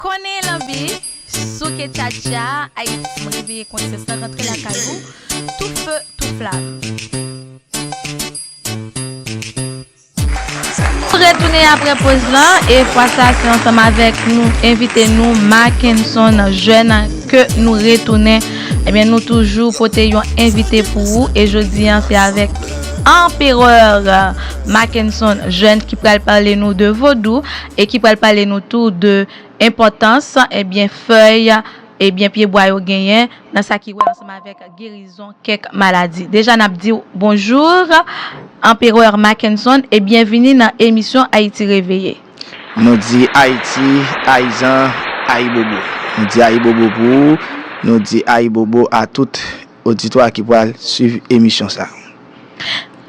Konnen lanbi, souke tchatcha, Ayiti reveye konsyans la rantre lakay ou, tou feu tou flamme. Nou retounen aprè poz lan e fwa sa se ansanm avèk nou envite nou Mackenson Jeune ke nou retounen. Ebyen nou toujou pote yon envite pou ou e jodi an se avèk Empereur Mackenson Jeune ki pral pale nou de Vodou e ki pral pale nou tou de enpòtans ebyen fèy ebyen pye bwa yo genyen nan sa ki wè ansanm avèk gerizon kèk maladi. Deja nap diw bonjour Empereur Mackenson e byenvini nan emisyon Ayiti Reveye. Nou di Ayiti, Ayizan, Ayibobo. Nou di Ayibobo pou ou, nou di Ayibobo a tout oditwa ki pral swiv emisyon sa.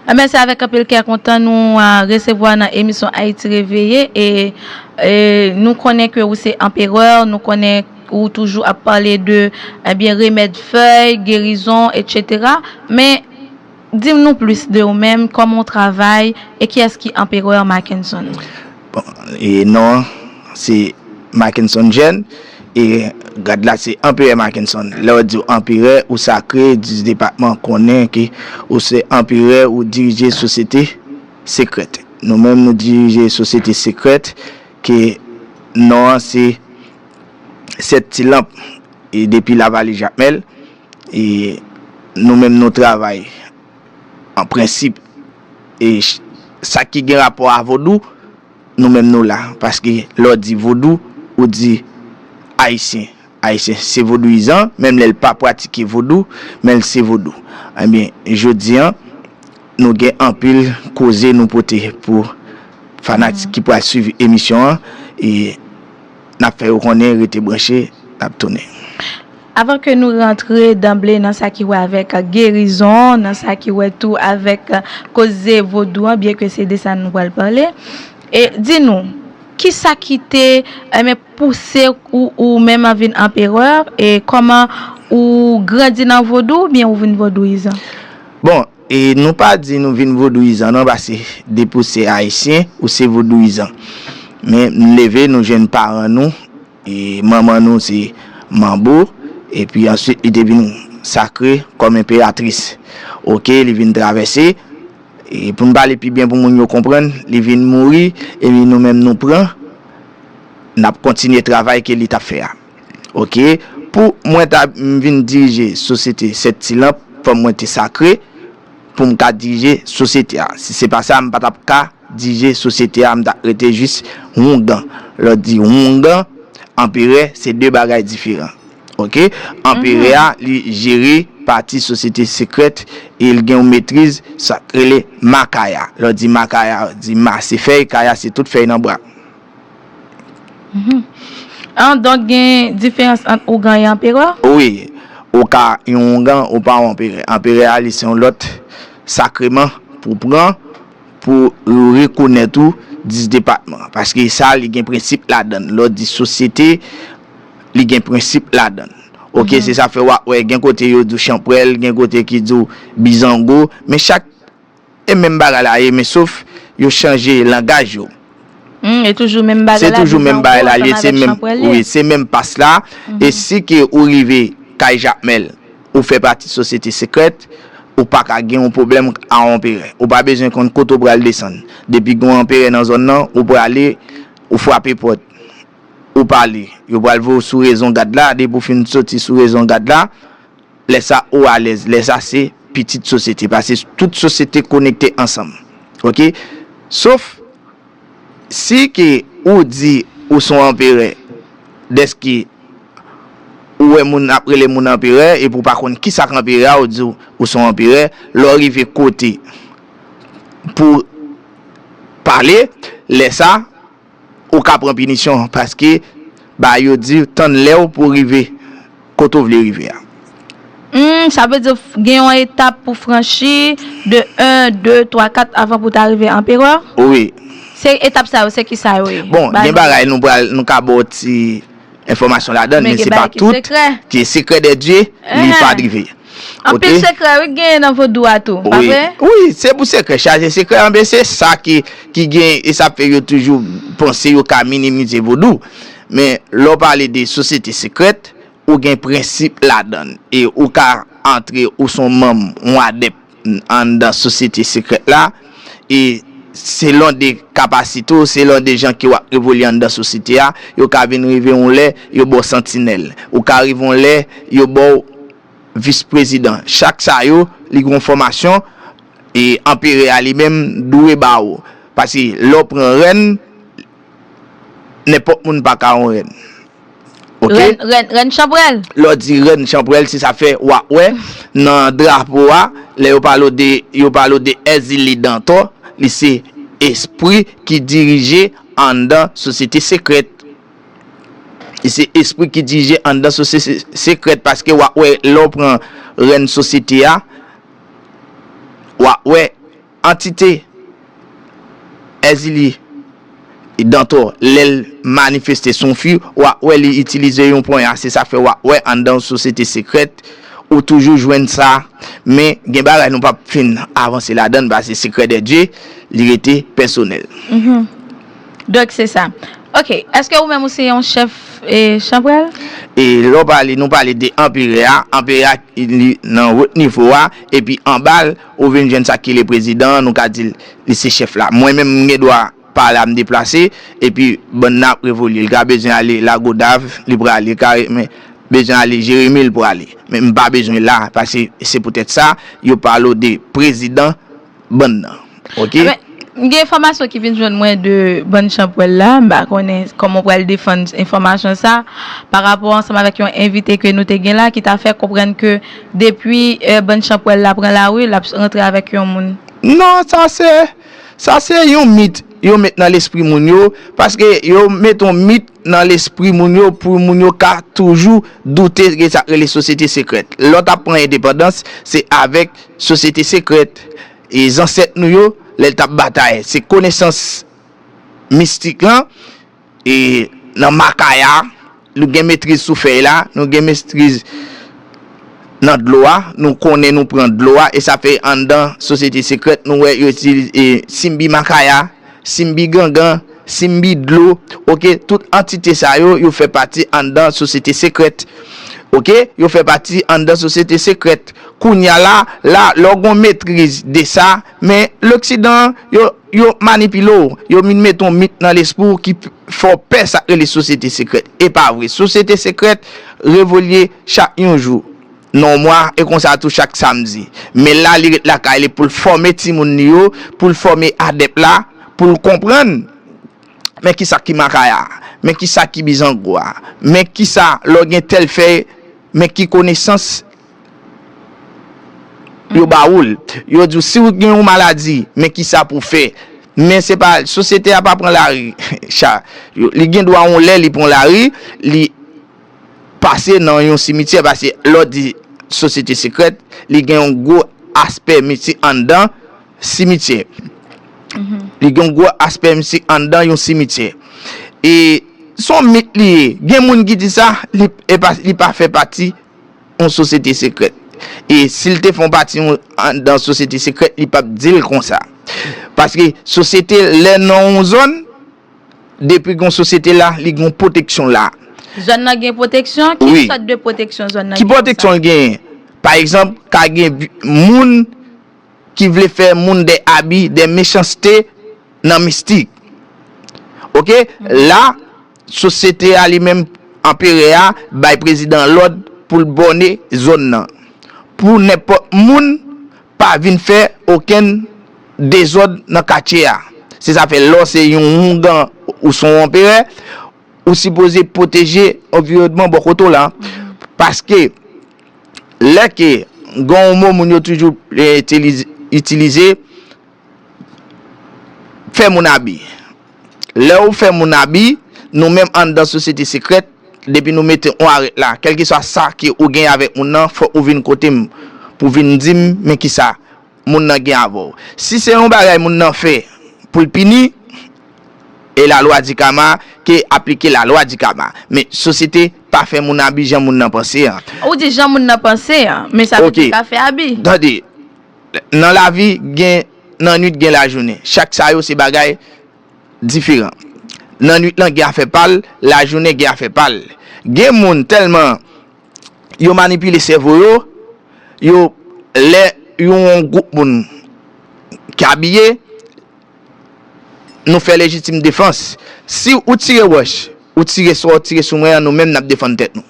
Enben se avèk anpil kè kontan nou resevwa nan emisyon Haïti Réveillée e nou konnen ke ou se Empereur, nou konnen ou toujou ap pale de enben remèd fèy, gerizon etc. Men. Dim nou plis de ou menm, kòman ou travay, e kiyès ki Empereur Mackenson? Bon, e non an se Mackenson Jeune, e grad la se Empereur Mackenson. Lè yo diw Empereur, ou sakre, dis depatman konnen ke ou se Empereur, ou dirije sosyete sekrèt. Nou menm nou dirije sosyete sekrèt ke non an se 7 ti lanp e depi Lavale Jakmèl. E nou menm nou travay an prensip e sa ki gen rapò a vodou nou menm nou la paske lè w di vodou ou di ayisyen ayisyen se vodouyizan menm lè l pa pratike vodou men l se vodou ebyen jodi an nou gen anpil koze nou pote pou fanatik ki pral swiv emisyon an e. Nap fè yo konnen rete branche nap tounen. Avan ke nou rantre danble nan sa ki wè avèk gerizon, nan sa ki wè tou avèk koze vodou an, byenke se de sa nou pral pale, di nou, kisa ki te pouse ou menm vin anperè e kòman ou grandi nan vodou oubyen ou vin vodouyizan? Bon! E nou pa di nou vin vodouyizan non pase depi ou se ayisyen ou se vodouyizan. Men nou leve nou jwenn paran nou e manman nou se manbo epi answit li te vin sakre kòm enperatris. Ok li vin travèse e pou nou pale pi byen pou moun yo konprann li vin mouri epi nou menm nou pran nap kontinye travay ke li tap fè a. Ok, pou Mwen ta vin dirije sosyete 7 ti lanp fòk Mwen te sakre pou m ka dirije sosyete a, si se pa sa m pa tap ka dirije sosyete a m ta rete jis houngan, lò di houngan, anperè se 2 bagay diferan ok, anperè a li jere pati sosyete sekrèt e l gen yon metriz sak rele Makaya, lò di Makaya di Ma se fèy, Kaya se tout fèy nan bwa. An, donk gen diferans ant ougan e anperè? Wi. Ou ka yon ougan, ou pa yon anperè. Anperè a, li se yon lòt sakreman pou w pran pou yo rekonèt ou dis depatman. Paske sa, li gen prensip ladan l. Lè w di sosyete, li gen prensip ladan l. Oke? Se sa k fè w ap wè gen kote yo di w chanprèl, gen kote ki di w bizango. Men chak E menm bagay la ye men sof yo chanje langaj yo. Humm e toujou menm bagay la bizan ou ko ansanm avèk chanpwèl ye. Se menm pas la e si ke ou rive kay jakmèl ou fè pati sosyete sekrèt ou paka gen yon pwoblèm a yon anperè ou pa bezwen konn kote ou pral desann depi gen yon anperè nan zòn nan ou prale ou frape pòt ou pale yo pral voye w sou rezon gad la depi ou fin soti sou rezon gad la Lè sa ou alèz, lè sa se pitit sosyete pase tout sosyete konekte ansanm ok sof si ke ou di ou son anperè dèske ou wè moun ap rele moun anperè epi ou pa konn kisak anperè a ou di ou son anperè lè ou rive kote pou pale lè sa Ou ka pran pinisyon paske ba yo di tann lèw pou rive kote ou vle rive a. Humm sa vle di gen yon etap pou franchi de 1 2 3 4 avan pou ta rive anperè? Wi. Se etap sa yo se kisa yo ye? Bon gen bagay nou pral nou ka baw ti. enfòmasyon ladan l men se pa tout ki sekrè de Dye li pa drive anpil sekrè wi gen nan vodou a tou pa vre wi se pou sekrè chaje sekrè anben se sa ki gen e sa fè yo toujou panse yo ka minimize vodou men lè w pale de sosyete sekrèt ou gen prensip ladan l e ou ka antre ou son manm ou adèp. anndan sosyete sekrèt la e selon de kapasite w, selon de jan ke w ap evolye anndan sosyete a, yo ka vin rive yon lè yo ba w santinèl. Ou ka rive yon lè yo ba w vis prezidan. Chak sa yo, li gen yon fòmasyon e anpere a li menm dwe ba ou. Paske lè w pran rèn. Nenpòt moun pa ka yon rèn. Ok. Rèn, rèn, rèn chanprèl. Lè w di rèn chanprèl, se sa fè w ap wè nan drapo a, lè yo pale w de, yo pale w de Èzili Dantò, li se espri ki dirije anndan sosyete sekrèt. Li se espri ki dirije anndan sosyete sekrèt paske w ap wè lè w pran rèn sosyete a, w ap wè. Antite Èzili Dantò lè l manifeste sou yon fi w ap wè li itilize yon ponya se sa k fè w ap wè anndan yon sosyete sekrèt ou toujou jwenn sa men gen bagay nou p ap fin avanse ladan l pase sekrè dè dye li rete pèsonèl. Hum Donk se sa Ok Èske ou menm ou se yon chèf chanprèl? E lè w pale nou pale de anperè a anperè a li nan wot nivo a epi anba l Ou vin jwenn sa ki rele prezidan an, nou ka di li se chèf la. Mwen menm, m gen dwa pa la, m deplase, epi bann nan ap revolye. Li ka bezwen ale Lagodav, li prale. Li ka bezwen ale Jeremi, li prale. Men m pa bezwen la, paske se poutèt sa yo pale w de prezidan bann nan. Ok? M gen enfòmasyon ki vin jwenn mwen de bann chanpwèl la, m pa konnen kòman w pral defann enfòmasyon sa, pa rapò ansanm avèk yon envite ke nou te gen la ki ta fè konprann ke depi bann chanpwèl la pran lari, l ap rantre avèk yon moun. Non, sa se, sa se yon mit yo met nan lespri moun yo, paske yo met yon mit nan lespri moun yo pou moun yo ka toujou doute de sa k rele sosyete sekrèt. Lè w t ap pran endepandans, se avèk sosyete sekrèt. E zansèt nou yo lè tap batay se konesans mistik lan e nan makaya nou gen metriz sou fèy la nou gen mestriz nan dlo a nou konnen nou pran dlo a e sa fè anndan sosyete sekrèt nou wè yo itilize simbi makaya Simbi gangan, Simbi dlo, ok, tout antite sa yo, yo fè pati anndan sosyete sekrèt. Ok, yo fè pati anndan sosyete sekrèt. Kounye a la, la, lè w gon metriz de sa, men, loksidan, yo, yo manipile w, yo vin mete yon mit nan lespri w ki fè w pè sa k rele sosyete sekrèt. E pa vre. Sosyete sekrèt revolye chak yon jou. non mwa e konsa tou chak samdi men la li ret lakay li poul fòme timoun li yo poul fòme adèp la poul konprann men kisa ki makaya men kisa ki bizango a men kisa lò gen tèl fèy men ki konesans yo ba oul yo di w si w gen yon maladi men kisa pou fè men se pa sosyete a pa pran lari li gen dwa yon lè li pran lari li. pase nan yon simityè paske lè w di sosyete sekrèt li gen yon gwo aspè mistik anndan simityè li gen yon gwo aspè mistik anndan yon simityè e se yon mit li ye gen moun ki di sa li pa fè pati yon sosyete sekrèt e si l te fè yon pati anndan yon sosyete sekrèt li p ap di l konsa paske sosyete lè nan yon zòn Depi gon sosyete la, li gon pwoteksyon la. Zòn nan gen pwoteksyon? Ki sòt de pwoteksyon zòn nan gen? Ki pwoteksyon l genyen? Pa egzanp, ka gen moun ki vle fè moun dè abi, dè mechanste nan mistik. Ok? La, sosyete a li menm, anperè a, bay prezidan an lòd pou l bòne zòn nan. Pou nenpòt moun. Pa vin fè okenn dezòd nan katye a. Se sa fè lè w se yon houngan ou se yon anperè, ou sipoze pwoteje anviwònman bò kote w la. Paske lè ke gen yon mo moun yo toujou itilize. fè moun abi. Lè ou fè moun abi, nou menm anndan sosyete sekrèt, depi nou mete on arèt la, kèlkeswa sa ke ou genyen avèk moun nan, fòk ou vin kote m pou vin di m men kisa moun nan gen avè w. Si se yon bagay moun nan fè pou l pini, e la lwa di kama, ke aplike la lwa di kama. Men sosyete pa fè moun abi jan moun nan panse an. Ou di jan moun nan panse an, men sa tou te ka fè abi. Tande, Nan lavi gen nannuit gen lajounen. Chak sa yo se bagay diferan. Nannuit lan gen afè pa l, lajounen gen afè pa l. Gen moun tèlman yo manipile sèvo yo, yo lè yon gwoup moun ki abiye, nou fè lejitim defans si ou tire wòch ou tire sa ou tire sou mwen an nou menm nap defann tèt nou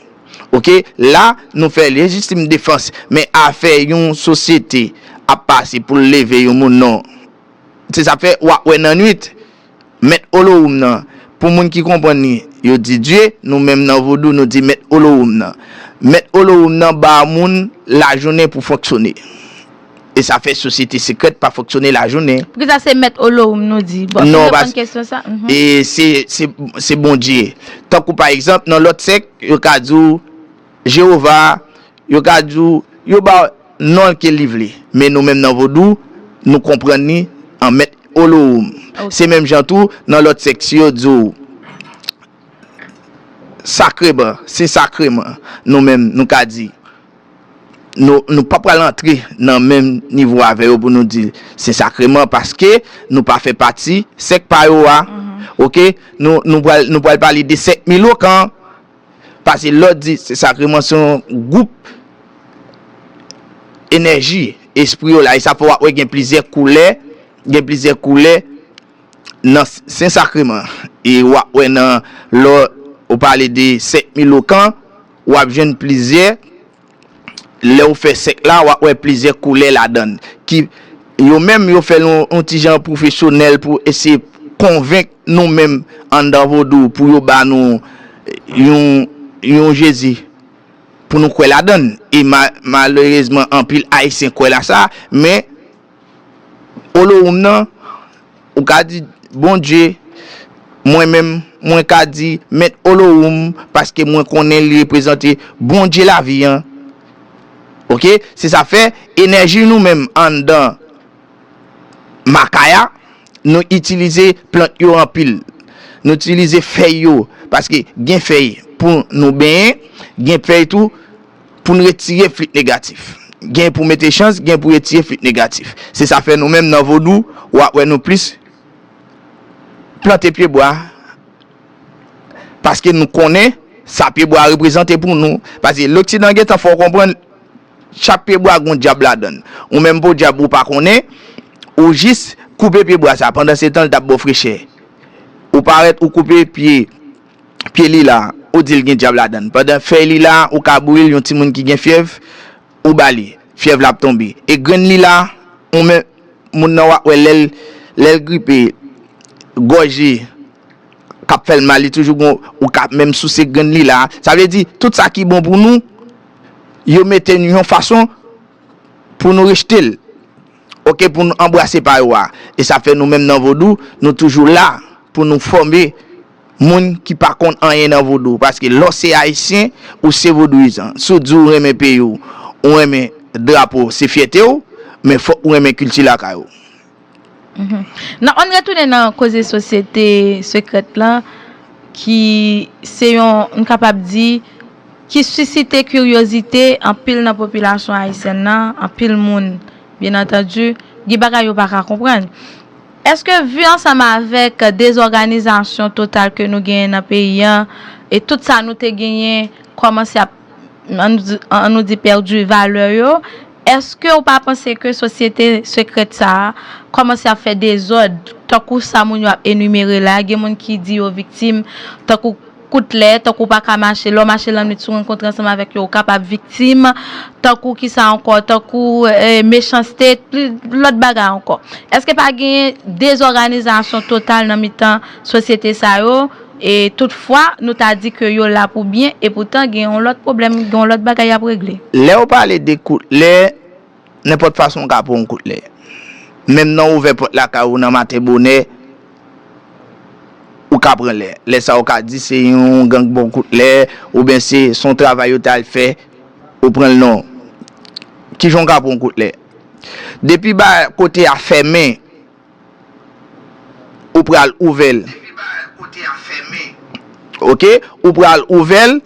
ok la nou fè lejitim defans men afè yon sosyete ap pase poul leve yon moun non se sa fè wap wè nan nwit mèt olowoum nan pou moun ki konprann li yo di dye nou menm nan vodou nou di mèt olowoum nan mèt olowoum nan ba moun lajounen pou fonksyone. e sa fè sosyete sekrèt pa fonksyone lajounen. Poukisa se Mèt Olorum nou di? Bon, fè m reponn kesyon sa. Non, pas, e se, se Bondye. Tankou pa egzanp, nan lòt sèk, yo ka di w Jewova, yo ka di w, yo ba w non l ke li vle. Men nou menm nan Vodou, nou konprann li an Mèt Olorum. Se menm jan tou, nan lòt sèk, si yo di w Sakreman, Sen Sakreman, nou menm, nou ka di. nou pa pral antre nan menm nivo avè yo pou nou di sen sakreman paske nou pa fè pati sèk pa yo a ok nou pral pale de sèk milokan pase lòt di sen sakreman se yon gwoup enèji espri yo la e sa fè wap wè gen plizyè koulè gen plizyè koulè nan sen sakreman e wap wè nan lò ou pale de sèk milokan W ap jwenn plizyè, lè ou fè sèk la, w ap wè plizyè koulè ladan l ki yo menm yo fè l yon ti jan pwofesyonèl pou eseye konvenk nou menm anndan vodou pou yo ba nou yon yon Jezi pou nou kwè ladan l e malerezman anpil Ayisyen kwè la sa men Olohoum nan, ou ka di, Bondye, mwen menm, mwen ka di, Mèt Olohoum, paske mwen konnen li reprezante Bondye lavi an. Ok? Se sa fè, enèji nou menm anndan Makaya, nou itilize plant yo anpil. Nou itilize fèy yo, paske gen fèy pou nou benyen, gen fèy tou. pou n retire flit negatif. Gen pou mete chans, gen pou retire flit negatif. Se sa fè nou menm nan Vodou, w ap wè nou plis plante pyebwa paske nou konnen sa pyebwa reprezante pou nou. Paske loksidan gen tan fè w konprann chak pyebwa gen yon dyab ladan l. Ou menm podyab ou pa konnen, ou jis koupe pyebwa sa pandan se tan l t ap ba w frechè. Ou parèt ou koupe pye. pye lila ou dil gen dyab ladann pandan fèy lila ou ka bouril yon timoun ki gen fyèv ou bali fyèv la ap tonbe e grenn lila ou men moun nan wap wè lèl lèl gripe gòj li kap fèl mal li toujou gon ou ka menm souse grenn lila sa vle di tout sa ki bon pou nou yo mete nou yon fason pou nou rejtel ok pou nou anbrase pa yo a e sa fè nou menm nan vodou nou toujou la pou nou fòme. Moun ki pa konn anyen nan vodou paske lè w se ayisyen ou se vodouyizan si w di w renmen peyi w ou renmen drapo w se fyète w men fòk ou renmen kilti lakay ou. Nan ann retounen nan koze sosyete sekrèt lan ki se yon n kapab di ki sisite kiryozite anpil nan popilasyon ayisyèn nan anpil moun byenantandi gen bagay yo pa ka konprann Eske vu ansanm avek dezorganizasyon total ke nou genyen nan peyi an, e tout sa nou te genyen komanse ap an nou di perdu valeur yo, eske ou pa panse ke sosyete secrète sa a komanse ap fè dezod, tankou sa moun yo ap enumere la, gen moun ki di yo viktim, tankou. Kout lè, tankou w pa ka mache, lè w mache lannwit si w rankontre ansanm avèk yo ou kapab viktim, tankou kisa ankò, tankou mechanste, lòt bagay ankò. Èske pa gen dezòganizasyon total nan mitan sosyete sa yo, e tout fwa nou ta di ke yo la pou byen e poutan gen yon lòt pwoblèm, gen yon lòt bagay y ap regle? Lè w pale de kout lè, nenpòt fason w ka pran yon kout lè. Menm nan ouvè pòt lakay ou nan maten bonè, ou ka pran lè. Lè sa ou ka di se yon gang bon kout lè oubyen se son travay yo te al fè ou pran l non. Kijan ou ka pran yon kout lè? Depi ba kote a fèmen ou pral ouvè l. Ok ou pral ouvè l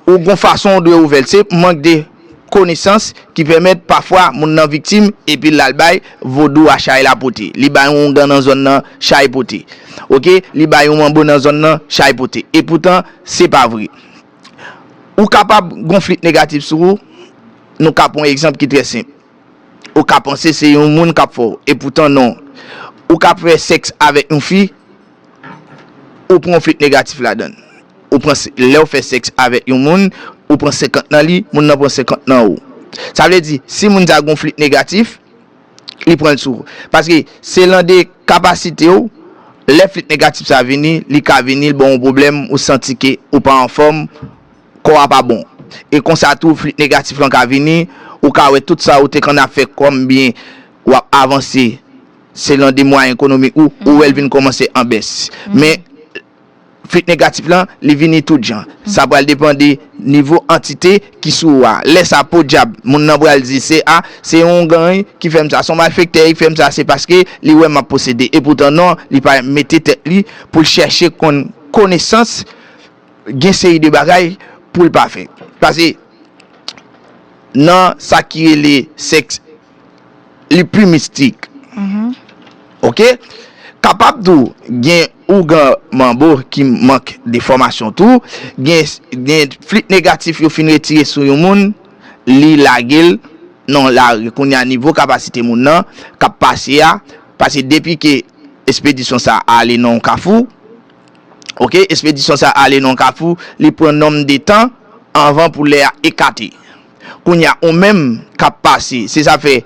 ou gon fason ou dwe ouvè l se mank de. konesans ki pèmèt pafwa moun nan viktim epi l al bay vodou a chay la pote. Li bay yon oungan nan zòn nan, chay pote. Ok, li bay yon manbo nan zòn nan, chay pote. Epoutan, se pa vre. Ou kapab gon flit negatif sou ou, nou ka pran yon egzanp ki trè senp. Ou ka panse se yon moun k ap fè w, epoutan non. Ou ka fè sèks avèk yon fi. ou pran flit negatif ladann. Ou pran, lèw fè sèks avèk yon moun, ou pran 50 nan li, moun nan pran 50 nan ou. Sa vle di, si moun sa gon flit negatif, li pranl sou ou. Paske, se lan de kapasitew, lè flit negatif sa vini, li ka vini, li baw yon pwoblèm, ou santi ke ou pa anfòm, kò a pa bon. E konsa tou, flit negatif lan ka vini, ou ka wè tout sa ou te konn ap fè kòm byen, wap avanse. Selon de mwayen ekonomik ou, ou wè l vin kòmanse an bès. Men, flit negatif lan, li vini tout jan. Sa pral depan de nivo antite ki sou ou a. Lè sa, podyab, moun nan pral di, se a, se yon gany ki fè m sa, se yon malfektè ki fè m sa, se paske li wè m ap posede. Epoutan non, li pa mete tèt li pou l chèche konn konesans, gen seri de bagay pou l pa fè. Pase, nan sa ki rele sèks. li pi mistik ok kapab tou gen ougan manbo ki mank de fòmasyon tou gen flit negatif yo fin retire sou yon moun li lagel nan lari kounya nivo kapasite moun nan kap pase a pase depi ke espedisyon sa ale nan yon kafou ok espedisyon sa ale nan yon kafou li pran nonm de tan anvan pou lè a ekate. Kounye a ou menm k ap pase, se sa fè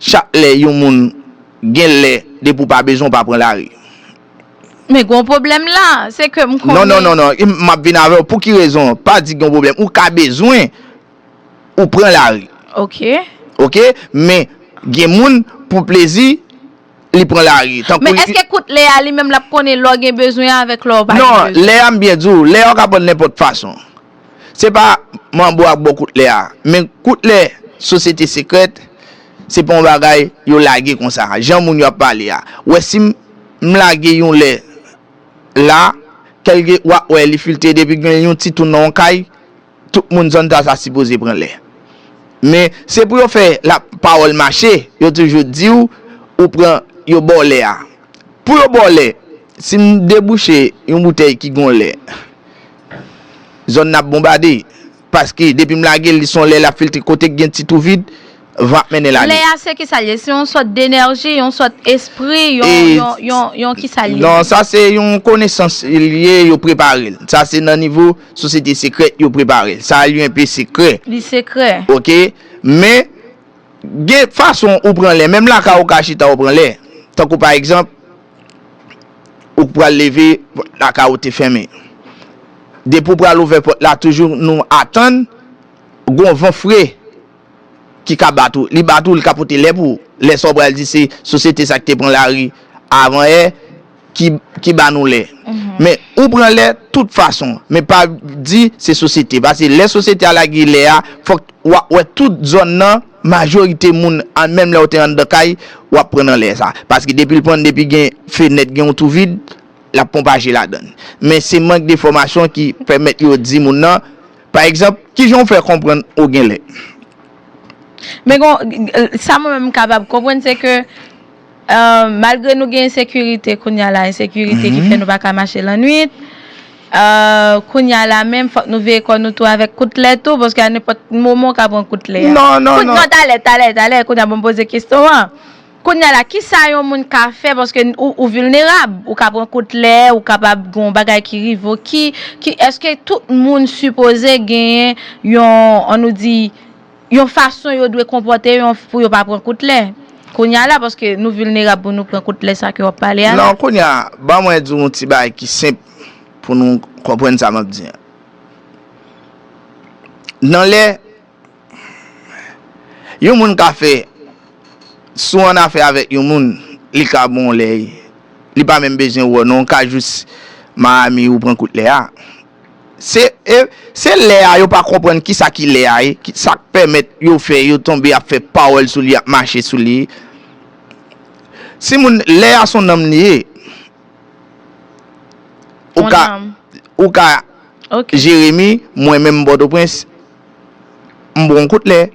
chak lè yon moun gen lè depi ou pa bezwen ou pa pran lari. Men gen yon pwoblèm la, se ke m konnen. Non non non non, m ap vin avè w pou ki rezon, pa di gen yon pwoblèm, ou ka bezwen ou pran lari. Ok. Ok, men gen moun pou plezi. li pran lari tankou li. Men eske kout lè a li menm lap konnen lè w gen bezwen avèk lè w pa gen bezwen. Non, lè a m byen di w, lè a w ka pran nenpòt fason. Se pa manbo ak bo kout lè a. Men kout lè sosyete sekrèt, se pa yon bagay yo lage konsa. Jan moun yo ap pale a. Wè si m lage yon lè la, kèlke wap wè li filte depi gen yon ti tou nan yon kay. Tout moun zòn Zaza sipoze pran lè. Men, se pou yo fè la pawòl mache, yo toujou di w, ou pran, yo ba w lè a. Pou yo ba w lè, si m debouche yon boutèy ki gon lè, zòn nan ap bonbade. Paske depi m lage l, li son lè l ap filtre kote ki gen ti twou vid. van ap mennen lane. Lè a se kisa l ye? Se yon sòt denèji, yon sòt espri, yon kisa l ye? Non, sa se yon konesans l ye, yo prepare l. Sa se nan nivo sosyete sekrè yo prepare l. Sa a li enpe sekrè. Li sekrè. Ok. Men, gen fason ou pran lè. Menm lakay ou ka chita ou pran lè. Tankou pa egzanp, ou pral leve, pòt lakay ou te fèmen. Depi ou pral ouvè pòt la, toujou nou atann, gon van fre. ki ka bat ou, li bat ou, li ka pote lè pou ou. Lè sa ou pral di se sosyete sa ki te pran lari avan yè ki ba nou lè. Men ou pran lè tout fason. Men pa di se sosyete. Pase lè sosyete a lage lè a, fòk wa wè tout zòn nan, majorite moun, menm lè ou te anndan kay, wap pran nan lè sa. Paske depi l pran, depi gen fenèt, gen yon tou vid, lap ponpaje ladan. Men se mank de fòmasyon ki pèmèt yo di moun nan. Pa egzanp, ki jan w fè konprann ou gen lè? Men gon, sa mwen menm m kapab konprann se ke malgre nou gen ensekirite kounya la, ensekirite ki fè nou pa ka mache lannwit, kounya la menm fòk nou veye kò nou tou avèk kout lè tou paske a nenpòt moman w ka pran kout lè a. Non, non, non. Non, talè, talè, talè, kounya pou m poze kesyon an. Kounya la kisa yon moun ka fè paske ou vilnerab, ou ka pran kout lè, ou kapab gen yon bagay ki rive ou ki, ki eske tout moun sipoze genyen yon an nou di yon fason yo dwe konpòte yon pou yo pa pran kout lè kounya la paske nou vilnerab pou nou pran kout lè sa ke wap pale a la. Non kounya ban mwen di w yon ti bagay ki senp pou nou konprann sa map di an. Nan lè. Yon moun ka fè, si w annafè avèk yon moun, li ka bon w lèy, li pa menm bezwen wè w non, w ka jis Miami ou pran kout lè a. Se, e, se lè a yo pa konprann kisa ki lè a e, ki sa k pèmèt yo fè, yo tonbe ap fè pawòl sou li, ap mache sou li. Si moun, lè a s on nanm li ye. Ou ka, ou ka Jeremi, mwen menm m Pòtoprens. m pran w kout lè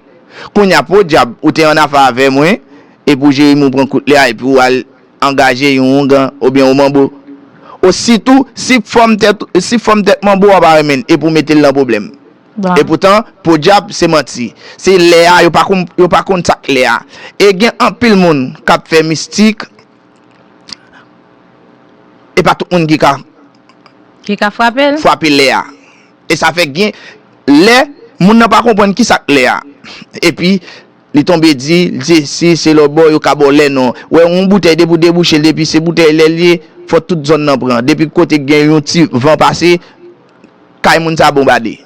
Kounye a podyab ou te annafè avè mwen epi w jere m ou pran kout lè a epi w al angaje yon oungan oubyen yon manbo O sitou si fòm tèt si fòm tèt manbo a w pa renmen l epi w mete l nan pwoblèm Epoutan podyab se manti Se lè a yo pa konn yo pa konn sa k lè a E gen anpil moun k ap fè mistik e pa tout moun ki ka ki ka frape l frape lè a. E sa fè gen lè moun nan pa konprann ki sa k lè a. Epi, li tonbe di, li di, si se lòt bò, yo ka ba w lè non. Ou wè, yon boutèy depi ou debouche l, depi se boutèy lè l ye, fò tout zòn nan pran. Depi kote gen yon ti van pase, kay moun sa bonbade.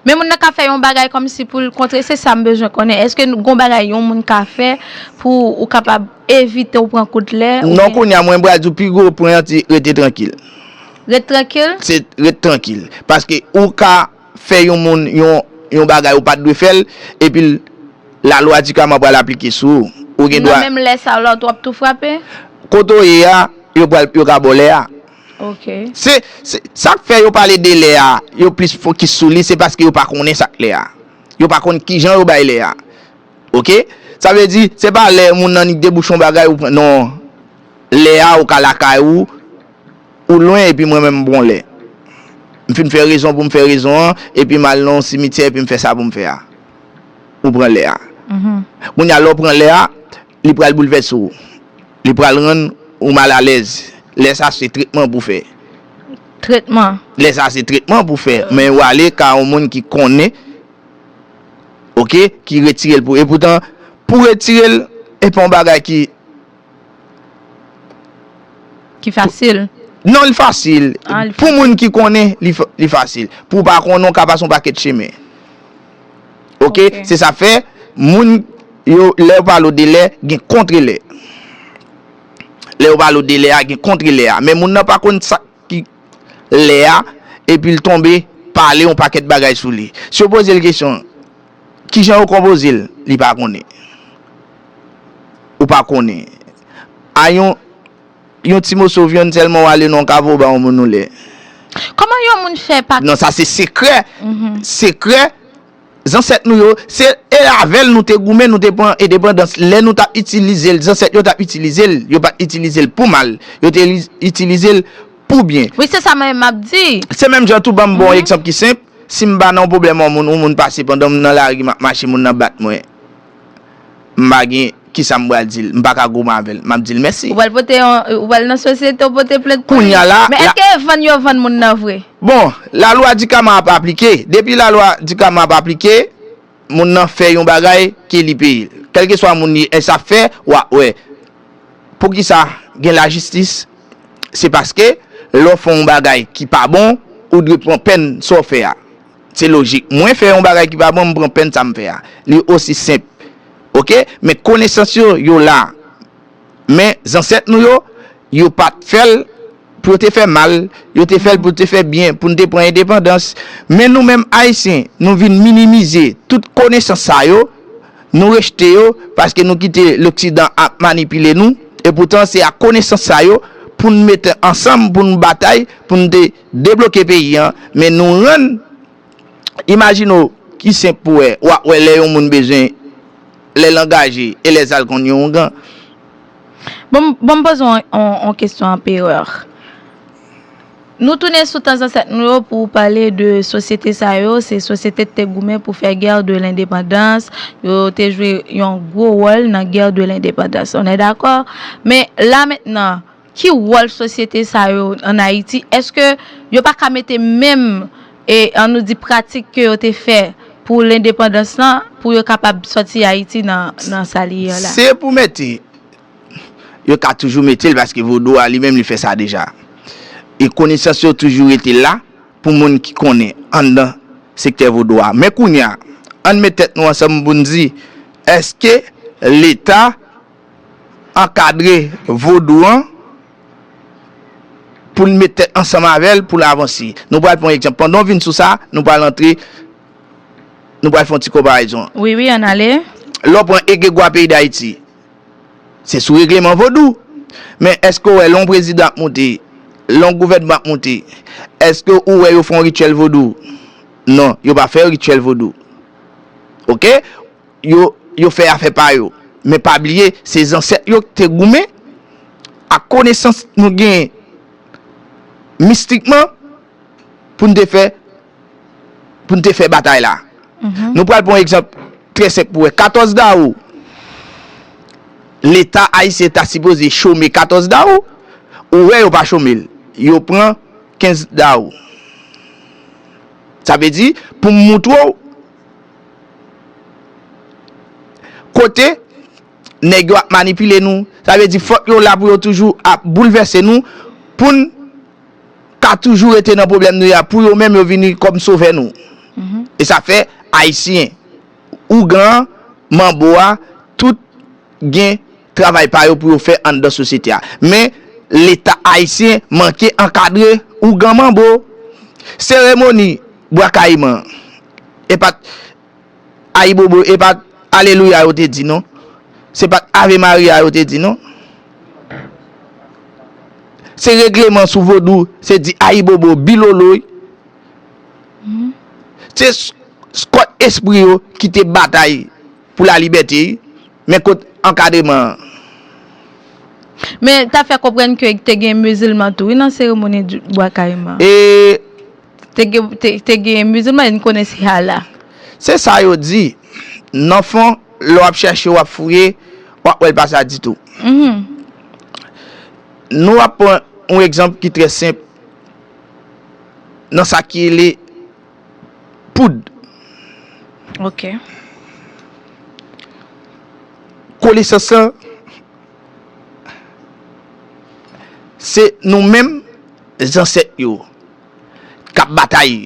Men moun nan ka fè yon bagay kòmsi pou l kontre, se sa m bezwen konnen. Èske gen yon bagay yon moun ka fè pou ou kapab evite ou pran kout lè? Non, kounye a mwen pral di w pi gwo pwen an ti rete trankil. Ret trankil? Se ret trankil. Paske ou ka fè yon moun yon bagay ou pat dwe fèl epil la lwa di kama pral aplike sou ou. Ou gen dwa. Nan menm lè sa lòt wap tou frape? Kote ou ye a, yo pral yo ka baw lè a. Ok. Se sak fè yo pale de lè a, yo plis fokis sou li se paske yo pa konnen sak lè a. Yo pa konn kijan yo bay lè a. Ok. Sa vle di se pa lè moun nan li debouche yon bagay ou pran non. Lè a ou ka lakay ou. Ou lwen epi mwen menm m bwonlè. M fin fè rezon pou m fè rezon an epi m al nan yon simityè epi m fè sa pou m fè a. Ou pran lè a. Kounye a lè w pran lè a, li pral boulvèse ou. Li pral rann ou malalèz. Lè sa se tretman pou fè. Tretman? Lè sa se tretman pou fè. Men ou ale ka yon moun ki konnen, oke, ki retire l pou ou. Epoutan, pou retire l, e pa yon bagay ki. Ki fasil? Non li fasil. Pou moun ki konnen, li fasil. Pou w pa konnen, w ka pase yon pakèt chemen. Ok? Se sa fè, moun yo, lè yo pale w de lè, gen kontre lè. Lè yo pale w de lè a, gen kontre lè a. Men moun nan pa konn sa. lè a epi l tonbe pale yon pakèt bagay sou li. Si yo poze l kesyon ki jan yo konpoze l, li pa konnen. Ou pa konnen. A yon yon ti moso vyann sèlman w ale nan yon kafou w ba yon moun yon lè. Kòman yon moun fè pa. Non sa se sekrè, sekrè. Zansèt nou yo, se e avèl nou te goumen nou te pran edepandans lè nou tap itilizel zansèt yo tap itilizel yo pat itilizel pou mal yo te itilizel pou byen. Wi se sa mwen map di. Se menm jan tou banm bon ekzanp ki senp, sim pa nan yon pwoblèm yon moun yon moun pase pandanm nan lari map mache moun nan bat mwen. m pa gen kisa m pral di l, m pa ka goumen avè l, m ap di l mèsi. Ou pral pote yon, ou pral nan sosyete ou pote plent pou li. Men èske vann yo vann moun nan vre? Bon, lalwa dikama ap aplike. Depi lalwa dikama ap aplike, moun nan fè yon bagay ke li peye l. Kèlkeswa moun li ye, sa ap fè, w ap wè. Poukisa gen lajistis? Se paske lè w fè yon bagay ki pa bon, ou dwe pran pèn sa w fè a. Se lojik. Mwen fè yon bagay ki pa bon, m pran pèn sa m fè a. Li osi senp. Ok? Men konesans yo, yo la. Men zansèt nou yo, yo pa t fè l pou yo te fè mal. Yo te fè l pou yo te fè byen, pou nou te pran endepandans. Men nou menm Ayisyen, nou vin minimize tout konesans sa yo. Nou rejte yo paske nou kite loksidan ap manipile nou. Epoutan se ak konesans sa yo pou nou mete ansanm, pou nou batay, pou nou te. Debloke peyi an men nou rann Imajine w ki senp pou wè wap wè lè yon moun bezwen lè l angaje e lè zal konn yon oungan. Bon bon m poze w yon kesyon Anpereur. Nou tounen sou tan zansèt nou yo pou pale de sosyete sa yo se sosyete k te goumen pou fè Guerre de l'indépendance yo te jwe yon gwo wòl nan Guerre de l'indépendance on est d'accord men la mentnan Ki wòl sosyete sa yo an Ayiti? Eske yo pa ka mete menm, an nou di pratik ke yo te fè pou lendepandans lan, pou yo kapab sòti Ayiti nan sa li ye an la? Se pou mete, yo ka toujou mete l paske vodou a li menm li fè sa deja. E konesans yo toujou rete la pou moun ki konnen anndan sektè vodou a. Men kounye a, ann met tèt nou ansanm pou n di, eske Leta. ankadre vodou an pou l met tèt ansanm avè l pou l avanse. Nou pral pran yon egzanp. Pandan w vin sou sa, nou pral antre, nou pral fè yon ti konparezon. Wi, wi, ann ale. Lè w pran egregwa peyi Dayiti, se sou regleman vodou. Men, èske w wè lè yon prezidan ap moute, lè yon gouvènman ap moute, èske ou wè yo fè yon rityèl vodou? Non, yo pa fè rityèl vodou. Oke? yo yo fè afè pa yo men pa bliye se zansèt yo ki te goumen ak konesans nou genyen mistikman pou n te fè pou n te fè batay la nou pral pran yon egzanp trè senp pou wè 14 dawou leta ayisyen ta sipoze chome 14 dawou ou wè yo pa chome l yo pran 15 dawou sa vle di pou m moutre w Kote nèg yo ap manipile nou, sa vle di fòk yo la pou yo toujou ap boulvèse nou pou n ka toujou rete nan pwoblèm nou ye a pou yo menm yo vini kòm sovè nou. E sa fè Ayisyen, Ougan an, Manbo a, tout gen. travay pa yo pou yo fè anndan sosyete a. Men, Leta ayisyen manke ankadre ougan manbo. Seremoni Bwa Kayiman e pa t Ayibobo, e pa t Alelouya yo te di non. Se pa t Ave Maria yo te di non. Se regleman sou vodou, se di Ayibobo, Biloloy. Se kòd espri yo ki te batay. Pou la libète wi. Men kot ankadreman an. Men ta fè konprann ke te gen mizilman tou wi nan seremoni Bwa Kayiman. E. Te gen mizilman e n konnen se Allah. Se sa yo di. Nan fon, lè w ap chache, w ap fouye, w ap wè l pa sa ditou. Nou ap pran yon egzanp ki trè senp nan sa ki rele. poud. Ok. Konesans lan se nou menm zansèt yo k ap batay.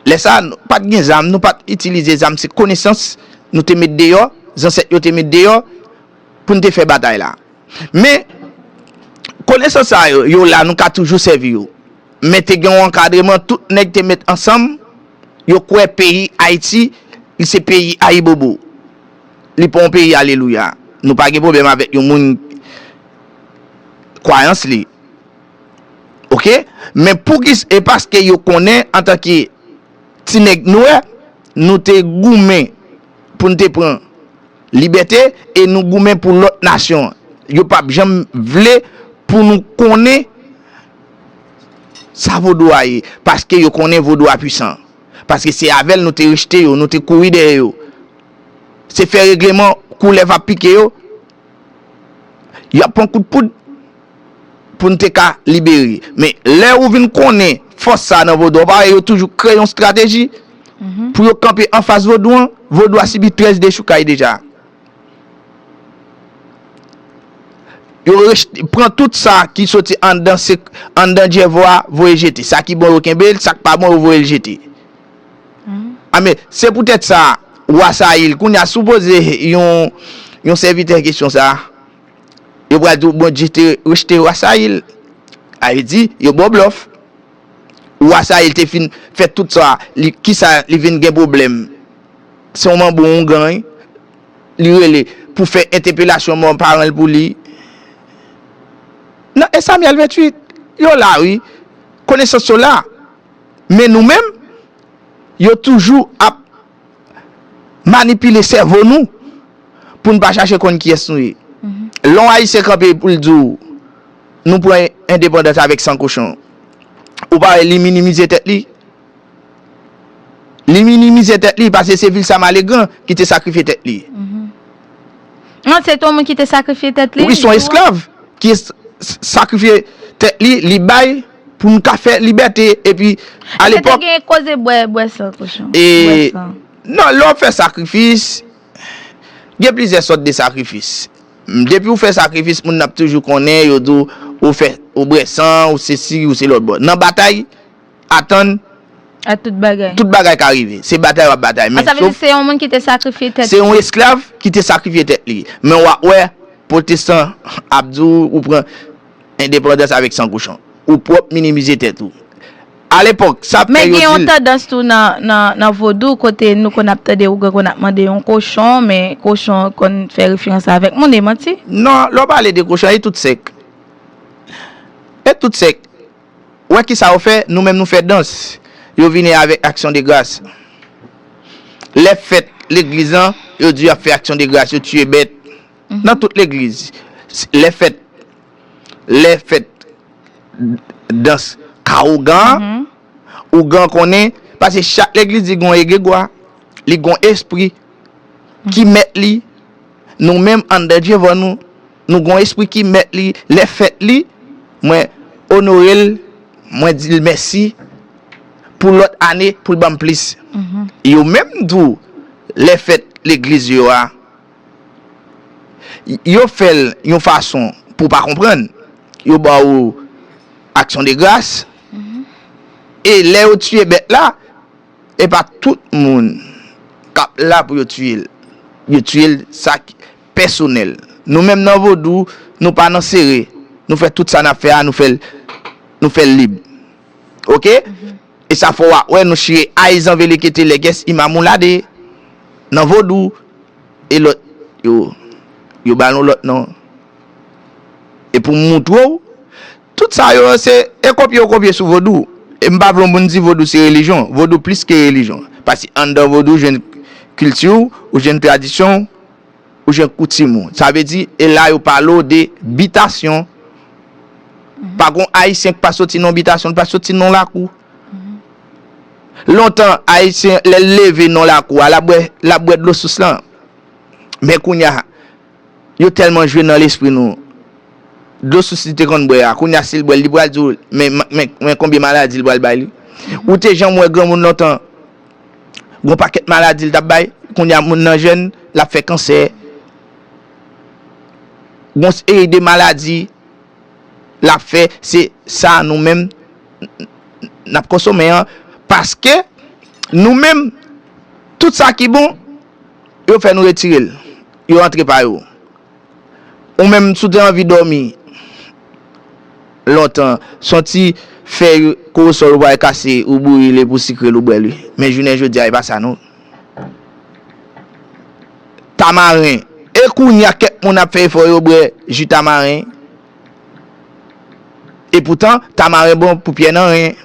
Lè sa a, nou pa t gen zam, nou pa t itilize zam. Se konesans nou te met deyò, zansèt yo te met deyò pou n te fè batay la. Men, konesans sa yo, yo la, nou ka toujou sèvi yo. Men te gen yon ankadreman, tout nèg te met ansanm, yo kwè peyi Ayiti, li se peyi Ayibobo. Li pa yon peyi alelouya. Nou pa gen pwoblèm avèk yon moun kwayans li. Ok? Men poukis, e paske yo konnen antanke ti nèg nwè, nou te goumen pou n te pran. Libète e nou goumen pou lòt nasyon yo pap janm vle pou nou konnen sa vodou a ye paske yo konnen vodou a pwisan paske se avèl nou te rejte yo nou te kouri dèyè yo se fè regleman koulèv ap pike yo yap pran kout poud. pou n te ka libere. Men, lè ou vin konnen fòs sa a nan vodou an, ou pa wè yo toujou kreye yon estrateji pou yo kanpe anfas vodou an? Vodou a sibi 13 dechoukay deja. Yo rejte, pran tout sa ki soti anndan se, anndan djèvo a, voye jete. Sa ki bon yo kenbe l, sa k pa bon yo voye l jete. A men, se poutèt sa, Wa Sayil, kounye a, si w poze yon, yon sèvitè kesyon sa a, Yo pral di w Bondye te rejte wa Sayil. A yo di, yo ba w blòf. Wa Sayil te fin fè tout sa, li ki sa li vin gen pwoblèm? Se yon manbo, yon gany li rele pou fè entepelasyon mò paran l pou li. Nan 1 Samyèl 28, yo la wi, konesans yo la. Men nou menm, yo toujou ap. manipile sèvo nou pou n pa chache konn kiyès nou ye. Lè yon Ayisyen kanpe pou l di w nou pran endepandans avèk san kochon, ou pa wè li minimize tèt li? Li minimize tèt li pase se Vilsa Malegran ki te sakrifye tèt li. Non, se te yon moun ki te sakrifye tèt li. Wi, se yon esklav ki sakrifye tèt li, li bay. pou nou ka fè libète epi a lepòk. Eske te gen koze bwè bwè san kochon? E bwè san. Non lè wap fè sakrifis gen plizyè sòt de sakrifis depi ou fè sakrifis moun nan ap toujou konnen yo di ou fè ou bwè san ou se si ou se lòtbò nan batay atann a tout bagay tout bagay ka rive se batay wap batay men sof. A sa vle di se yon moun ki te sakrifye tèt li. Se yon esklav ki te sakrifye tèt li men wap wè pwotestan ap di ou ou pran. Endepandans avèk san kochon. Ou pwòp minimize tèt ou. A lepòk, sa ap fè yo di l. Men gen yon tandans tou nan vodou kote nou konn ap tande ougan konn ap mande yon kochon, men kochon konn fè referans avèk moun, e manti? Non, lè w pale de kochon, e tout sèk? E tout sèk? Ou wè kisa yo fè? Nou menm nou fè dans. Yo vini avèk aksyon de gras. Lè fèt legliz lan, yo di yo ap fè aksyon de gras, yo tiye bèt. nan tout legliz lè fèt lè fèt dans ka ougan ougan konnen paske chak legliz li gon egregwa li gon espri ki mèt li nou menm anndan Jeovah nou nou gon espri ki mèt li lè fèt li mwen onorel mwen dil mèsi pou lòt ane poul banm plis yo menm tou lè fèt legliz yo a. Yo fè l yon fason pou w pa konprann. Yo ba w aksyon de gras. E lè yo tiye bèt la, e pa tout moun k ap la pou yo tiye l. Yo tiye l sa ki pèsonèl. Nou menm nan vodou, nou pa nan sere. Nou fè tout sa n ap fè a, nou fè l lib. Oke? E sa fò wa wè nou chire ay zanvelekete lègès imamoulade nan vodou e lòt yo yo ba nou lòt non e pou m moutre w tout sa yo se e kopye yo kopye sou vodou e m pa vle w moun di vodou se relijyon vodou plis ke relijyon paske anndan vodou jwenn kilti w ou jwenn tradisyon w Ou jwenn koutim ou. Sa vle di, e la yo pale w de bitasyon. Pa gon Ayisyen ki pa soti nan yon bitasyon, li pa soti nan yon lakou. Lontan, Ayisyen, lè l leve nan lakou a, l ap bwè, l ap bwè dlo sous lan. Men kounye a, yo tèlman jwe nan lespri nou. Dlo sous li te konn bwè a, kounye a si l bwè l, li pral di w, men, men, men konbyen maladi li pral bay li. Ou te janm wè granmoun lontan? Gon pakèt maladi li tap bay, kounye a moun nan jèn, lap fè kansè. Gon seri de maladi lap fè, se sa nou menm nap konsome an, paske nou menm tout sa ki bon yo fè nou retirel, yo antre pa yo. Ou menm si w te anvi dòmi lontan, se yon ti fèy korosòl ou pral kase ou bouyi li pou sikre l ou bwè li. Men jounen jodi a e pa sa non. Tamaren, e kounye a kèk moun ap fè efò yo bwè ji tamaren. E poutan tamaren bon pou pyè nan ren.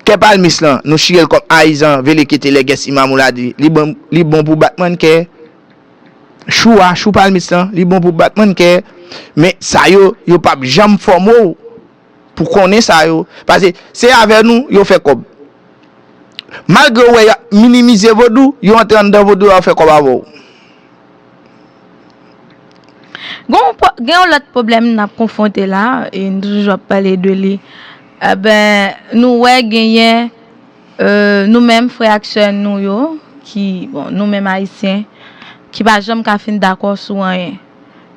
Kè palmis lan, nou chire l kòm ayizan velekete lè gen siman mou la di, Li bon pou batman kè. Chou a, chou palmis lan, li bon pou batman kè. Men sa yo, yo pa p janm fòme w pou konnen sa yo. Pase se avè nou yo fè kòb. Malgre yo wè y ap minimize vodou, yo antre anndan vodou a yo fè kòb avè w. Gen yon lòt pwoblèm n ap konfwonte la, e nou toujou ap pale de li, anben nou wè genyen nou menm frè ak sè nou yo ki, bon nou menm Ayisyen, ki pa janm ka fin dakò sou anyen.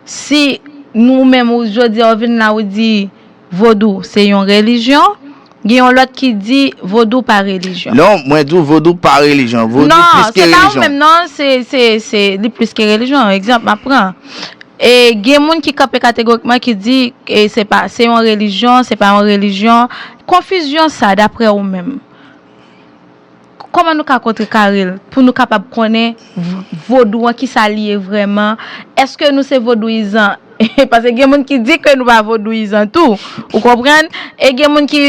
Si nou menm ou jodi a ou vin la ou di, Vodou se yon relijyon, gen yon lòt ki di vodou pa relijyon. Non, mwen di w vodou pa relijyon. Vodou plis ke relijyon. Non, se pa ou menm non, se, se, se, li plis ke relijyon. Egzanp, m ap pran. E, gen moun ki kanpe kategorikman ki di, e, se pa, se yon relijyon, se pa yon relijyon. Konfizyon sa, daprè ou menm. Kòman nou ka kontrekare l pou nou kapab konnen vodou an ki sa li ye vrèman? Èske nou se vodouyizan? Pase gen moun ki di ke nou pa vodouyizan tou. Ou konprann? E gen moun ki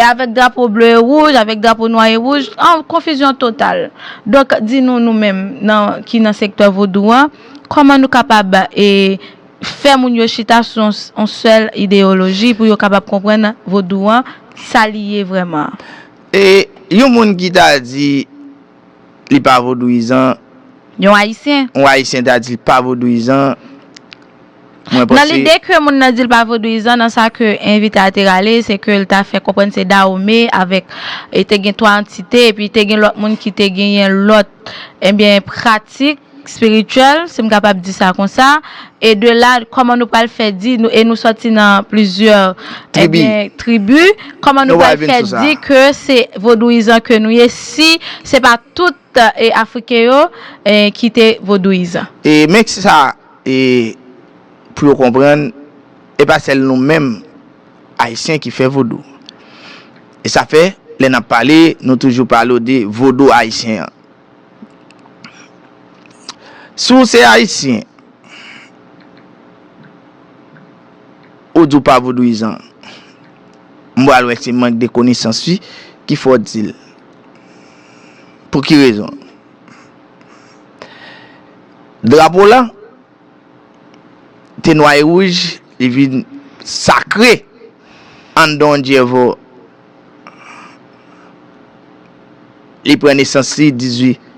avèk drapo ble e wouj, avèk drapo nwa e wouj. An konfizyon total. Donk di nou nou menm nan ki nan sektè vodou an, kòman nou kapab e fè moun yo chita sou yon sèl ideyoloji pou yo kapab konprann vodou an sa li ye vrèman? E yon moun ki ta di li pa vodouyizan. Yon Ayisyen. Yon Ayisyen ta di li pa vodouyizan, mwen panse. Nan lide ke moun nan di li pa vodouyizan nan sa ke envite a te rale, se ke li ta fè konprann se Dahomey avèk, e te gen twa antite, epi te gen lòt moun ki te genyen lòt, enbyen, pratik. spirituel si m kapab di sa konsa e de la kòman nou pral fè di e nou sòti nan plizyè tribi tribi kòman nou pral fè di ke se vodouyizan ke nou ye si se pa tout e afriken yo e ki te vodouyizan. E men ki sa e pou yo konprann e pa sèl nou menm ayisyen ki fè vodou e sa fè lè n ap pale nou toujou pale w de vodou ayisyen an Si w se Ayisyen, ou di w pa vodouyizan, m pral wè se mank de konesans wi ki fè w di l. Pou ki rezon? Drapo lan te nwa e wouj, li vin sakre anndan yon dyevo. Li pran nesans li 18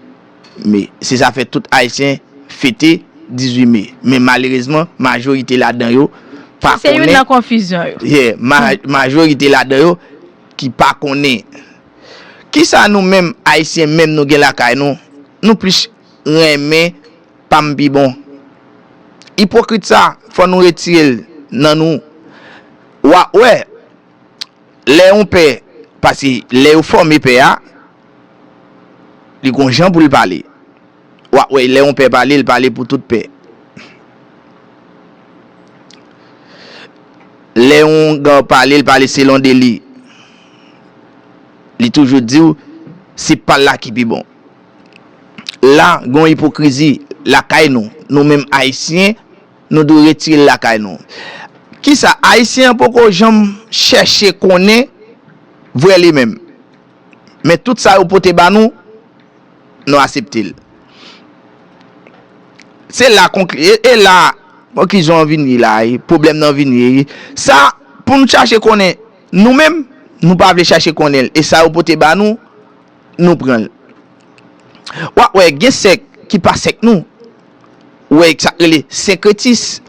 Me. Se sa fè tout Ayisyen fete 18 Me. Men malerezman, majorite ladan yo pa konnen. Sa se youn nan konfizyon yo. Ye. Majorite ladan yo ki pa konnen. Ki sa nou menm Ayisyen menm nou gen lakay nou, nou plis renmen pa m pi bon. Ipokrit sa, fò nou retire l nan nou. Wa wè. lè yon pè, paske lè yo fòme pè a, li gon jan pou l pale. W ap wè lè yon pè pale, l pale pou tout pè. Lè yon gar pale, l pale selon de li. Li toujou di w, se pa l la ki pi bon. La, gon ipokrizi lakay nou, nou menm Ayisyen. Nou dwe retire l lakay nou. Kisa Ayisyen an poko janm chèche konnen vre li menm? Men tout sa yo pote ba nou, nou asepte l. Se la konkli, e la konklizyon an vin ye la a, pwoblèm nan vin ye. Sa pou nou chache konnen nou menm, nou pa vle chache konnen l. E sa yo pote ba nou. nou pran l. Wa wè gen sèk ki pa sèk nou wè sa k rele senkretis.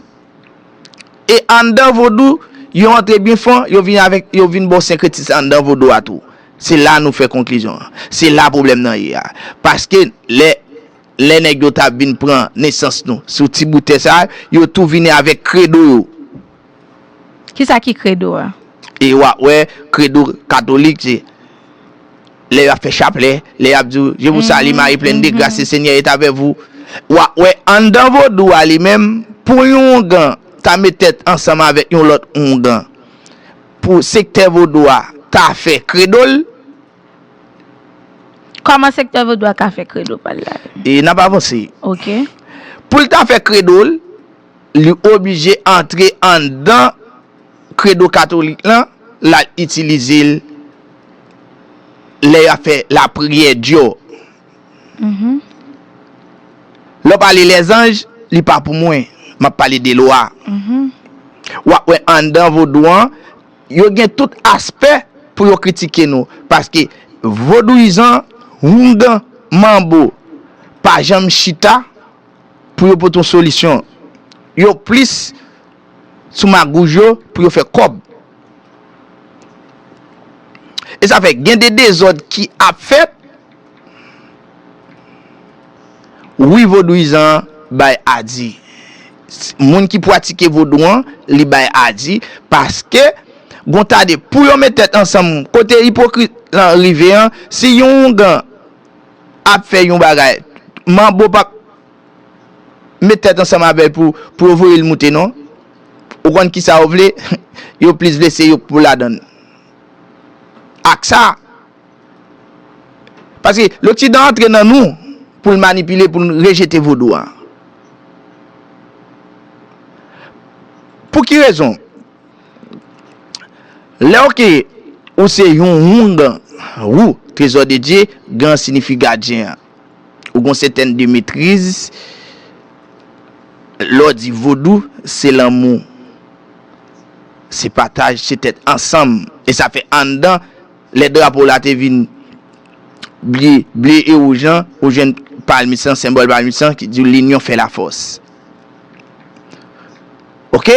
E anndan vodou yo antre byen fon yo vin avèk yo vin ba w senkretis la anndan vodou a tou. Se la nou fè konklizyon an. Se la pwoblèm nan ye a. Paske lè lè nèg yo ta vin pran nesans nou sou ti bout tè sa yo tou vini avèk kredo yo. Kisa ki kredo a? E wa wè kredo katolik se lè yo ap fè chaplè, lè yap di w je vous salie Marie pleine de grace le seigneur est avec vous. Wa wè anndan vodou a li menm pou yon oungan ta met tèt ansanm avèk yon lòt oungan pou sektè vodou a ta fè kredo l. Kòman sektè vodou a ka fè kredo pa l la? E nap avanse. Ok. Pou l ta fè kredo l. li oblije antre anndan kredo katolik lan, l al itilize l lè y ap fè lapriyè Diò. Lè w pale lèzanj, li pa pou mwen, m ap pale de lwa. W ap wè anndan vodou an, yo gen tout aspè pou yo kritike nou, paske vodouyizan, houngan, manbo pa janm chita. pou yo pote yon solisyon. Yo plis sou magouj yo pou yo fè kòb. E sa fè gen de dezòd ki ap fèt. Wi vodouyizan an bay a di. Moun ki pwatike vodou an li bay a di paske gon ta de pou yo met tèt ansanm kote ipokrit lan rive an si yon oungan ap fè yon bagay manbo pap met tèt ansanm avèl pou pou yo voyel moute non ou konn kisa yo vle yo plis vle se yo pou ladann ak sa paske loksidan antre nan nou poul manipile poul rejete vodou an pou ki rezon. Lè ok ou se yon houngan rou trezò de Dye gan sinifi gadyen an ou gon sètèn de metriz lè w di vodou se lanmou se pataj se tèt ansanm e sa fè anndan lè drapo w la te vin ble ble e wouj lan ou jwenn palmis lan senbòl palmis lan ki di w linyon fè lafòs. Ok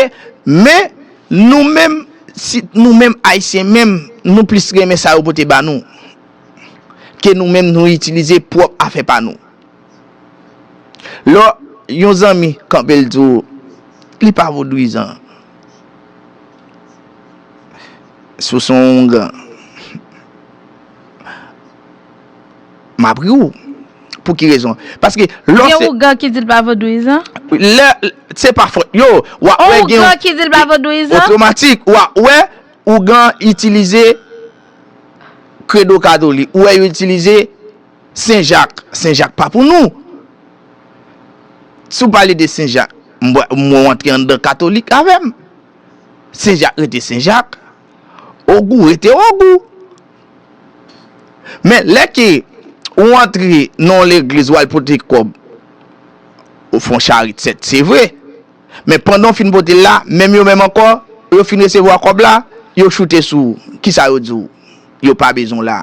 men nou menm si nou menm ayisyen menm nou plis renmen sa yo pote ba nou ke nou menm nou itilize pwòp afè pa nou lò yon zanmi kanpe l di w li pa vodouyizan si w son oungan. Map ri w. Pou ki rezon? Paske lò se. Gen ougan ki di l pa vodouyizan? Lè, se pa fòt yo. Ou a wè gen. Ougan ki di l pa vodouyizan? Otomatik, ou a wè ougan itilize kredo katolik. Ou wè yo itilize Sen Jak. Sen Jak pa pou nou. Si w pale de Sen Jak, mwen w antre anndan katolik avè m. Sen Jak rete Sen Jak. Ogou rete Ogou. Men lè ke ou antre nan yon legliz wal pote kòb ou fon charit sèt se vre men pandan ou fin potel la menm yo menm ankò lè yo fin resevwa kòb la yo choute sou ou kisa yo diw yo pa bezwen w la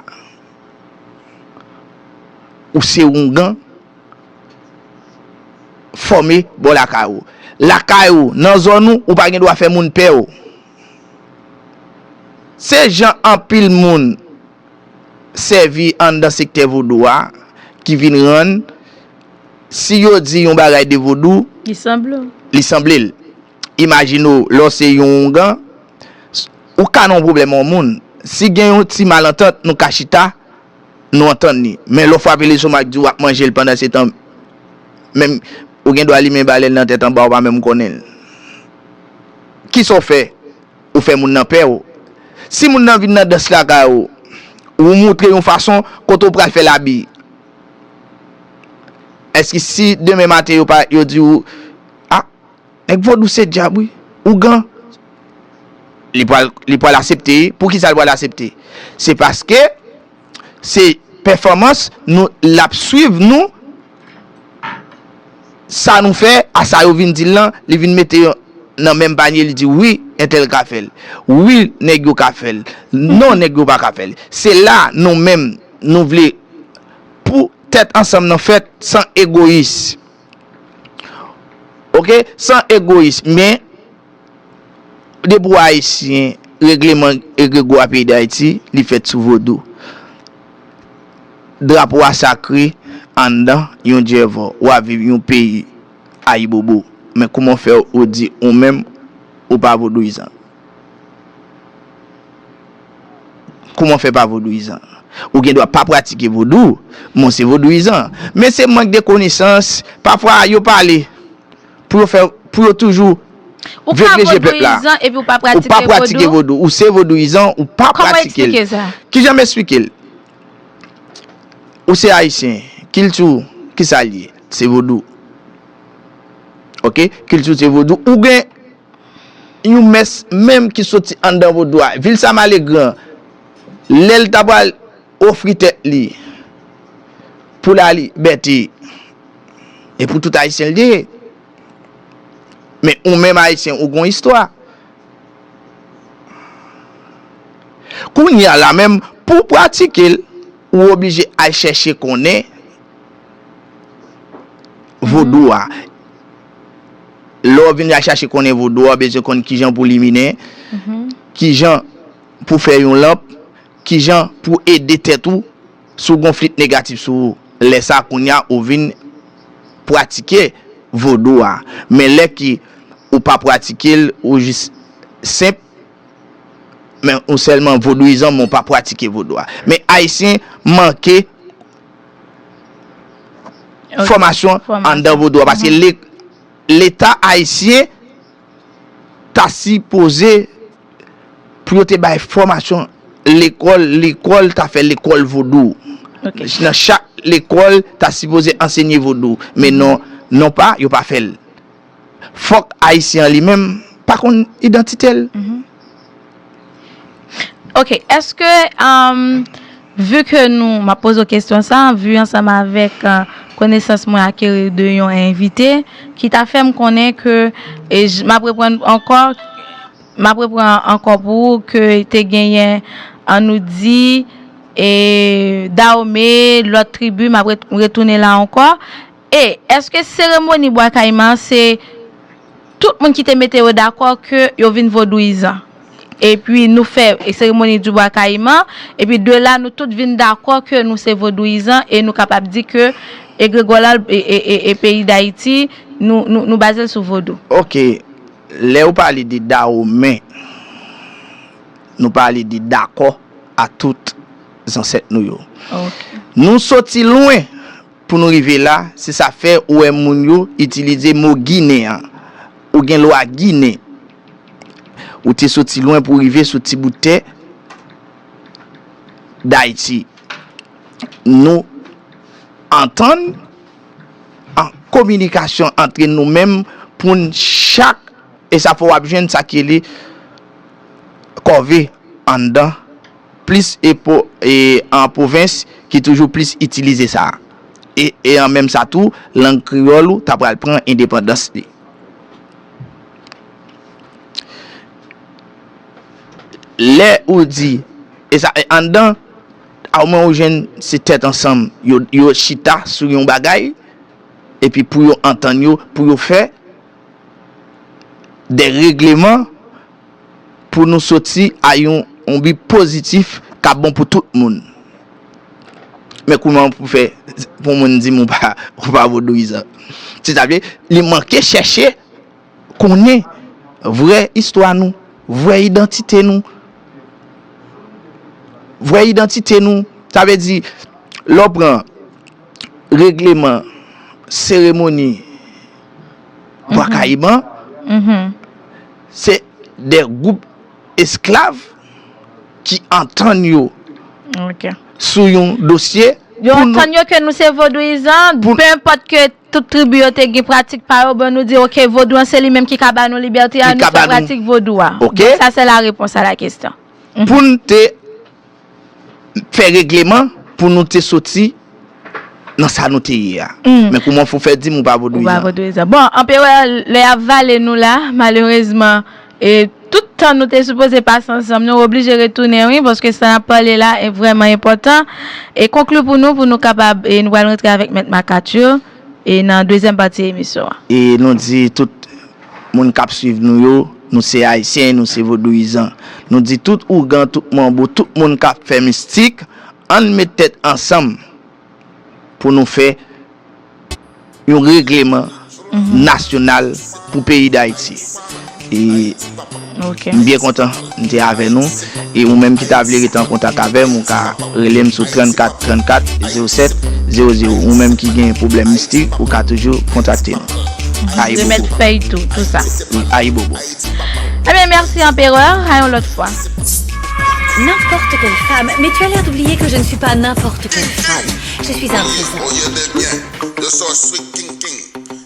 ou se oungan fòme bò lakay ou lakay ou nan zòn ou ou pa gen dwa fè moun pèw. Se jan anpil moun sèvi anndan sektè vodou a ki vin rann si yo di yon bagay de vodou, li sanble l. Imajine w lè w se yon oungan, ou ka nan yon pwoblèm yon moun, si gen yon ti malantant nou ka chita. Nou antann li. Men lè w frape lestomak di w ap manje l pandansetan menm ou gen dwa limen balèn nan tèt anba ou pa menm konnen l. Kisa w fè? Ou fè moun nan pè w. Si moun nan vin nan dans lakay ou, ou moutre yon fason kote ou pral fè l abi. Èske si demen maten yo pa yo di w, a. Nèg vodou se dyab wi. Ougan li pwal asepte wi pou kisa li pwal asepte se paske se pèfòmans nou lap swiv nou sa nou fè a sa yo vin dil lan li vin mete yo nan menm panye li di wi entèl ka fèl wi nèg yo ka fèl non nèg yo paka fèl se la nou menm nou vle pou tèt ansanm nan fèt san egoyis. Ok san egoyis men depi ou ayisyen regleman egrego a peyi dayiti li fèt sou vodou drapo a sakre anndan yon djèvò wap viv yon peyi ayibobo men kouman fè ou di ou menm ou pa vodouyizan. Kouman fè pa vodouyizan? Ou gen dwa pa pratike vodou, men w se vodouyizan. Men se mank de konesans, pafwa yo pale pou yo fè, pou yo toujou vegle je pèp la. Ou ka vodouyizan epi w pa pratike vodou? Ou se vodouyizan, ou pa pratike l. Kòman w esplike sa? Kijan m esplike l? Ou se Ayisyen, kilti w kisa l ye? Se vodou. Ok, kilti w se vodou. Ou gen. yon mès menm ki soti anndan vodou a. Vil sa male gran. Lè l ta pral ofri tèt li pou lalibète, e pou tout Ayisyen l te ye. Men ou menm Ayisyen ou gen yon istwa. Kounye a la menm, pou w pratike l, ou oblije al chèche konnen vodou a. lè w vin a chache konnen vodou a, w bezwen konn kijan pou liminen, kijan pou fè yon lanp, kijan pou ede tèt ou si w gen yon flit negatif sou ou. Lè sa a kounya ou vin pratike vodou a. Men lè ke ou pa pratike l, ou jis senp, men ou sèlman vodouyizan men ou pa pratike vodou a. Men ayisyen manke. fòmasyon anndan vodou a paske leta ayisyen ta sipoze pou yo te bay fòmasyon lekòl lekòl ta fè lekòl vodou nan chak lekòl ta sipoze ansenye vodou men non non pa yo pa fèl Fòk Ayisyen an li menm pa konn idantite l. Ok, eske vu ke nou, m ap poze w kesyon sa, vu ansanm avèk konesans mwen akeri de yon envite ki ta fè m konnen ke, e m ap reprann ankò, m ap reprann ankò pou ou ke te genyen an nou di e Dawome, lòt tribi, m ap retounen la ankò, E, èske seremoni Bwa Kayiman an se tout moun ki te mete yo dakò ke yo vin vodouyizan? Epi nou fè seremoni di Bwa Kayiman, epi de la nou tout vin dakò ke nou se vodouyizan e nou kapab di ke egregòral e peyi Dayiti nou baze l sou vodou? Oke, lè ou pale de Dawomen, nou pale de dakò a tout zansèt nou yo. Oke. Nou soti lwen! Pou nou rive la, se sa k fè ou wè moun yo itilize mo Ginen an. Ou gen lwa Ginen. Ou te soti lwen pou w rive sou ti bout tè Dayiti. Nou antann an kominikasyon antre nou menm pou n chak e sa fè w ap jwenn sa k rele kòve anndan. plis e po e an pwovens ki toujou plis itilize sa a. E e an menm sa tou, lang kreyòl ou ta pral pran endepandans li. Lè ou di e sa e anndan a ou mwen ou jwenn se tèt ansanm yo yo chita sou yon bagay epi pou yo antann yo pou yo fè de regleman pou nou soti a yon bi pozitif k ap bon pou tout moun. Men kouman pou fè pou moun di m ou pa vodouyizan? Se ta vle li manke chèche konnen vrè istwa nou, vrè idantite nou. Vrè idantite nou, sa vle di lè w pran regleman, seremoni. Bwa Kayiman, se de gwoup esklav ki antann yo sou yon dosye. Yo antann yo ke nou se vodouyizan, pe enpòt ke tout tribi yo te gen pratik pa yo, bon nou di ok vodou an se li menm ki ka ba nou libète a, nou se pratik vodou a. Donk sa se la repons a la kestyon. Pou n te. fè regleman pou nou te soti nan sa nou te ye a. Men kouman fou fè di m ou pa vodouyizan? Ou pa vodouyizan. Bon, anperè, lè y ap vale nou la, malerezman, e tout tan nou te sipoze pase ansanm, nou oblije retounen wi, paske sa n ap pale la vrèman enpòtan. E konkli pou nou, pou nou kapab, e nou pral rantre avèk Mèt Makatchou, e nan dezyèm pati emisyon an. E nou di tout. Moun kap swiv nou yo, nou se ayisyen, nou se vodouyizan. Nou di tout ougan, tout manbo, tout moun kap fè mistik, ann met tèt ansanm pou nou fè yon regleman nasyonal pou peyi dayiti. M byen kontan m te avè nou e ou menm ki ta vle rete an kontak avè m ou ka rele m sou 34 34 07 00 ou menm ki gen pwoblèm mistik ou ka toujou kontakte m Ayibobo Remèt fèy tou tout sa Wi Ayibobo Ebyen mèsi Anperè a yon lòt fwa. N'importe quelle femme mais tu as l'air d'oublier que je ne suis pas n'importe quelle femme je suis un trésor.